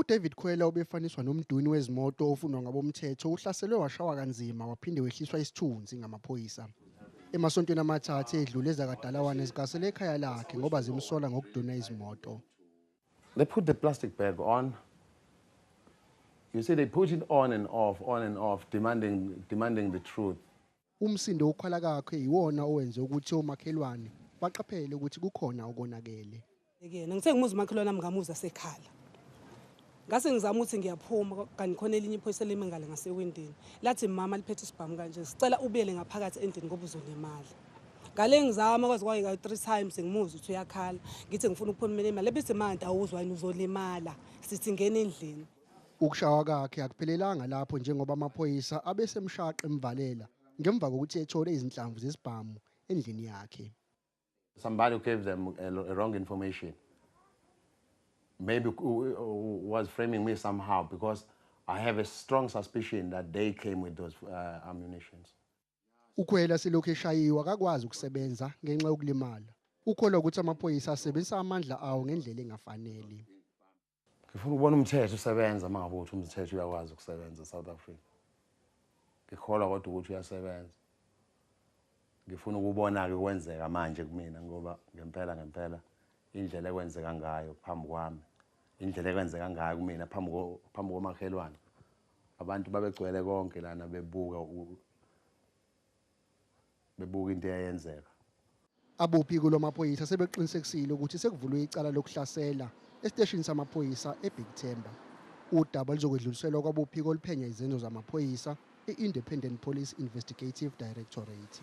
UDavid Khwela obefaniswa nomduni wezimoto ofunwa ngabomthetho uhlaselwe washawa kanzima waphinde wehliswa isithunzi ngamaphoyisa. Emasontweni amathathu edlule ezakadalawane zigasele ekhaya lakhe ngoba zimsola ngokuduna izimoto. They put the plastic bag on. You see they put it on and off, on and off demanding demanding the truth. Umsindo wokukhala kakhe yiwona owenze ukuthi omakhelwane baqaphele ukuthi kukhona okonakele. Yekena ngithe ngimuza umakhelwane nami ngamuza sekhala. Ngase ngizama ukuthi ngiyaphuma kanti khona elinye iphoyisa lime ngale ngasewindini. Lathi mama liphethe isibhamu kanje sicela ubuyele ngaphakathi endlini ngoba uzolimala. Ngale ngizama kwaze kwayeka 3 times ngimuza ukuthi uyakhala. Ngithi ngifuna ukuphuma imali. Lebethi manje awuzwa yini uzolimala. Sithi ngena endlini. Ukushawa kakhe akuphelelanga lapho njengoba amaphoyisa abesemshaqe emvalela ngemva kokuthi ethole izinhlamvu zesibhamu endlini yakhe. Somebody gave them a, a wrong information. Maybe was framing me somehow because I have a strong suspicion that they came with those uh, ammunitions. Ukhwela selokhu eshayiwe akakwazi ukusebenza ngenxa yokulimala. Ukholwa ukuthi amaphoyisa asebenzisa amandla awo ngendlela engafanele. ngifuna ukubona umthetho usebenza uma ngabe uthi umthetho uyakwazi ukusebenza esouth africa ngikholwa kodwa ukuthi uyasebenza ngifuna ukubona-ke kwenzeka manje kumina ngoba ngempela ngempela indlela ekwenzeka ngayo phambi kwami indlela ekwenzeka ngayo kumina phambi komakhelwane abantu babegcwele konke lana bebuka bebuka into eyayenzeka. Abophiko lwamaphoyisa sebeqinisekisile ukuthi sekuvulwe icala lokuhlasela esiteshini samaphoyisa eBig Themba. Udaba luzokwedluliselwa kwabophiko oluphenya izenzo zamaphoyisa, i-Independent Police Investigative Directorate.